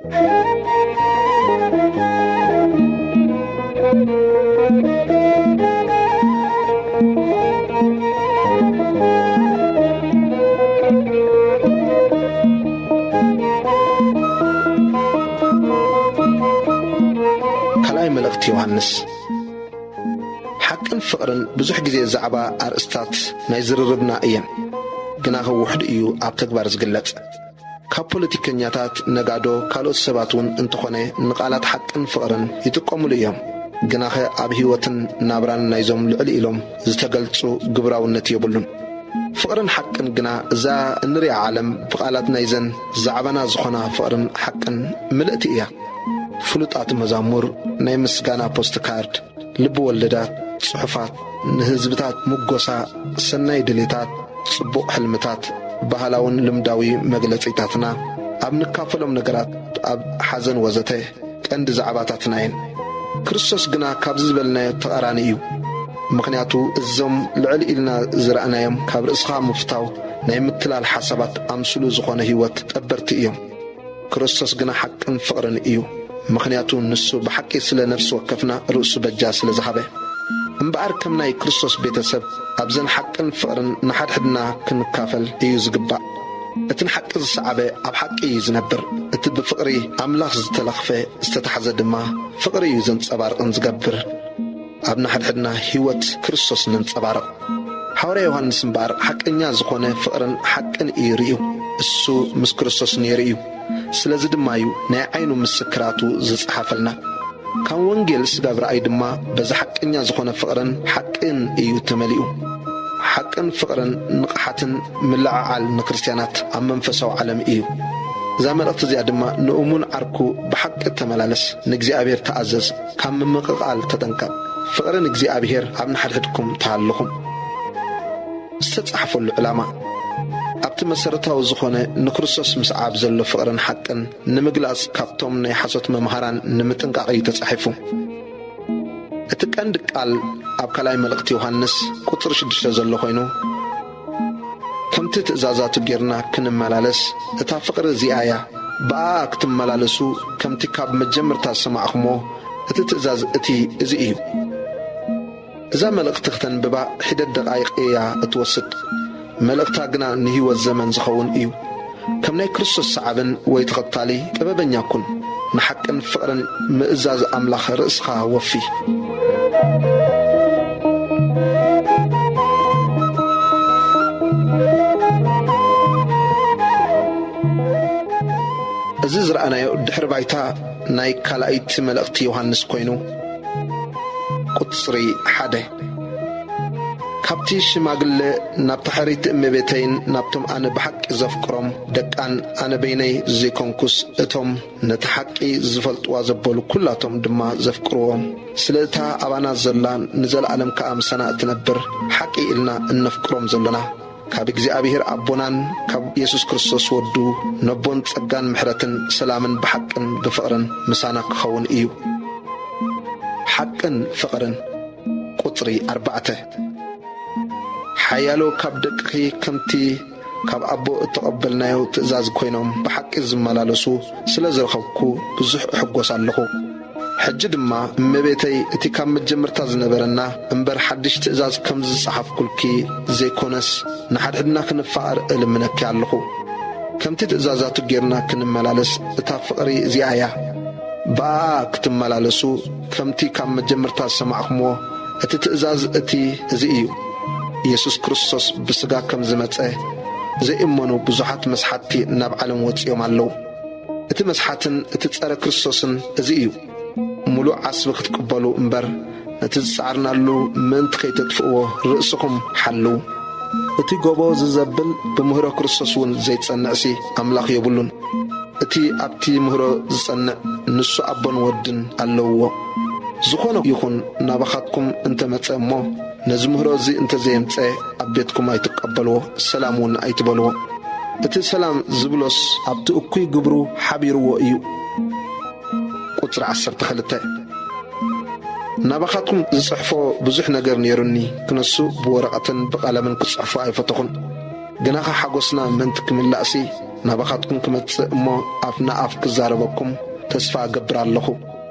ካልኣይ መልእኽቲ ዮሃንስ ሓቅን ፍቕርን ብዙሕ ግዜ ዛዕባ ኣርእስታት ናይ ዝርርብና እየን፣ ግናኸ ውሑድ እዩ ኣብ ተግባር ዝግለጽ። ካብ ፖለቲከኛታት፣ ነጋዶ፣ ካልኦት ሰባት ውን እንተኾነ ንቃላት ሓቅን ፍቕርን ይጥቀሙሉ እዮም። ግናኸ ኣብ ህይወትን ናብራን ናይዞም ልዕል ኢሎም ዝተገልጹ ግብራውነት የብሉን። ፍቕርን ሓቅን ግና እዛ እንሪኣ ዓለም ብቃላት ናይዘን ዛዕባና ዝኾና ፍቕርን ሓቅን ምልእቲ እያ። ፍሉጣት መዛሙር፣ ናይ ምስጋና ፖስትካርድ፣ ልቢ ወለዳት፣ ጽሑፋት፣ ንህዝብታት ምጎሳ፣ ሰናይ ድሌታት፣ ጽቡቕ ሕልምታት፣ ባህላውን ልምዳዊ መግለጺታትና፣ ኣብ ንካፈሎም ነገራት፣ ኣብ ሓዘን ወዘተ፣ ቀንዲ ዛዕባታትና እየን። ክርስቶስ ግና ካብዚ ዝበልናዮ ተቓራኒ እዩ። ምኽንያቱ እዞም ልዕል ኢልና ዝረኣናዮም ካብ ርእስኻ ምፍታው ናይ ምትላል ሓሳባት ኣምስሉ ዝኾነ ህይወት ጠበርቲ እዮም። ክርስቶስ ግና ሓቅን ፍቕርን እዩ፣ ምኽንያቱ ንሱ ብሓቂ ስለ ነፍሲ ወከፍና ርእሱ በጃ ስለ ዝሃበ። እምበኣር ከም ናይ ክርስቶስ ቤተ ሰብ ኣብዘን ሓቅን ፍቕርን ንሓድሕድና ክንካፈል እዩ ዝግባእ። እቲ ንሓቂ ዝሰዓበ ኣብ ሓቂ እዩ ዝነብር፣ እቲ ብፍቕሪ ኣምላኽ ዝተለኽፈ ዝተታሕዘ ድማ ፍቕሪ እዩ ዘንጸባርቕን ዝገብር። ኣብ ንሓድሕድና ህይወት ክርስቶስ ነንጸባርቕ። ሓዋርያ ዮሃንስ እምበኣር ሓቀኛ ዝኾነ ፍቕርን ሓቅን እዩ ርእዩ። እሱ ምስ ክርስቶስ ነይሩ እዩ። ስለዚ ድማ እዩ ናይ ዓይኑ ምስክራቱ ዝጸሓፈልና። ካም ወንጌል ስጋብ ራእይ ድማ በዚ ሓቀኛ ዝኾነ ፍቕርን ሓቅን እዩ ተመሊኡ። ሓቅን ፍቕርን ንቕሓትን ምልዕዓል ንክርስትያናት ኣብ መንፈሳዊ ዓለም እዩ። እዛ መልእኽቲ እዚኣ ድማ ንእሙን ዓርኩ ብሓቂ ተመላለስ፣ ንእግዚኣብሔር ተኣዘዝ፣ ካብ ምምቕቓል ተጠንቀቕ። ፍቕሪ ንእግዚኣብሄር ኣብ ንሓድሕድኩም ተሃልኹም። ዝተጻሕፈሉ ዕላማ፣ ኣብቲ መሰረታዊ ዝኾነ ንክርስቶስ ምስዓብ ዘሎ ፍቕርን ሓቅን ንምግላጽ ካብቶም ናይ ሓሶት መምሃራን ንምጥንቃቕ እዩ ተጻሒፉ። እቲ ቀንዲ ቃል ኣብ ካልኣይ መልእኽቲ ዮሃንስ ቁጽሪ ሽዱሽተ ዘሎ ኮይኑ፣ ከምቲ ትእዛዛቱ ጌርና ክንመላለስ እታ ፍቕሪ እዚኣ እያ ብኣኣ ክትመላለሱ ከምቲ ካብ መጀምርታ ዝሰማዕኹሞ እቲ ትእዛዝ እቲ እዚ እዩ። እዛ መልእኽቲ ክተንብባ ሒደት ደቓይቕ እያ እትወስድ መልእኽታ ግና ንህይወት ዘመን ዝኸውን እዩ። ከም ናይ ክርስቶስ ሰዓብን ወይ ተኸታሊ ጥበበኛ ኩን። ንሓቅን ፍቕርን ምእዛዝ ኣምላኽ ርእስኻ ወፊ። እዚ ዝረኣናዮ ድሕሪ ባይታ ናይ ካልኣይቲ መልእኽቲ ዮሃንስ ኮይኑ ቁጽሪ ሓደ። ካብቲ ሽማግለ ናብታ ሕርይቲ እመቤተይን ናብቶም ኣነ ብሓቂ ዘፍቅሮም ደቃን ኣነ በይነይ ዘይኮንኩስ እቶም ነታ ሓቂ ዝፈልጥዋ ዘበሉ ኩላቶም ድማ ዘፍቅርዎም ስለ እታ ኣባና ዘላን ንዘለኣለም ከኣ ምሳና እትነብር ሓቂ ኢልና እነፍቅሮም ዘሎና ካብ እግዚኣብሔር ኣቦናን ካብ የሱስ ክርስቶስ ወዱ ነቦን ጸጋን ምሕረትን ሰላምን ብሓቅን ብፍቕርን ምሳና ክኸውን እዩ። ሓቅን ፍቕርን ቁጽሪ ኣርባዕተ ሓያሎ ካብ ደቅኺ ከምቲ ካብ ኣቦ እተቐበልናዮ ትእዛዝ ኮይኖም ብሓቂ ዝመላለሱ ስለ ዝረኸብኩ ብዙሕ እሕጎስ ኣለኹ። ሕጂ ድማ እመቤተይ እቲ ካብ መጀመርታ ዝነበረና እምበር ሓድሽ ትእዛዝ ከምዚ ዝጸሓፍኩልኪ ዘይኮነስ ንሓድሕድና ክንፋቐር እልምነኪ ኣለኹ። ከምቲ ትእዛዛቱ ጌርና ክንመላለስ እታ ፍቕሪ እዚኣ እያ። ብኣኣ ክትመላለሱ ከምቲ ካብ መጀመርታ ዝሰማዕክምዎ እቲ ትእዛዝ እቲ እዚ እዩ። ኢየሱስ ክርስቶስ ብሥጋ ከም ዝመጸ ዘይእመኑ ብዙሓት መስሓትቲ ናብ ዓለም ወጺኦም ኣለዉ። እቲ መስሓትን እቲ ጸረ ክርስቶስን እዚ እዩ። ምሉእ ዓስቢ ክትቅበሉ እምበር ነቲ ዝጸዓርናሉ ምእንቲ ከይተጥፍእዎ ርእስኹም ሓልው። እቲ ጎቦ ዝዘብል ብምህሮ ክርስቶስ እውን ዘይጸንዕሲ ኣምላኽ ዮብሉን። እቲ ኣብቲ ምህሮ ዝጸንዕ ንሱ ኣቦን ወድን ኣለውዎ። ዝኾነ ይኹን ናባኻትኩም እንተ መጸ እሞ ነዚ ምህሮ እዚ እንተ ዘየምጸ ኣብ ቤትኩም ኣይትቀበልዎ ሰላም ውን ኣይትበልዎ እቲ ሰላም ዝብሎስ ኣብቲ እኩይ ግብሩ ሓቢርዎ እዩ ቁጽሪ ዓሰርተ ክልተ ናባኻትኩም ዝጽሕፎ ብዙሕ ነገር ኔሩኒ ክነሱ ብወረቐትን ብቐለምን ክጽሕፎ ኣይፈተኹን ግናኸ ሓጎስና ምእንቲ ክምላእሲ ናባኻትኩም ክመጽእ እሞ ኣፍ ንኣፍ ክዛረበኩም ተስፋ እገብር ኣለኹ።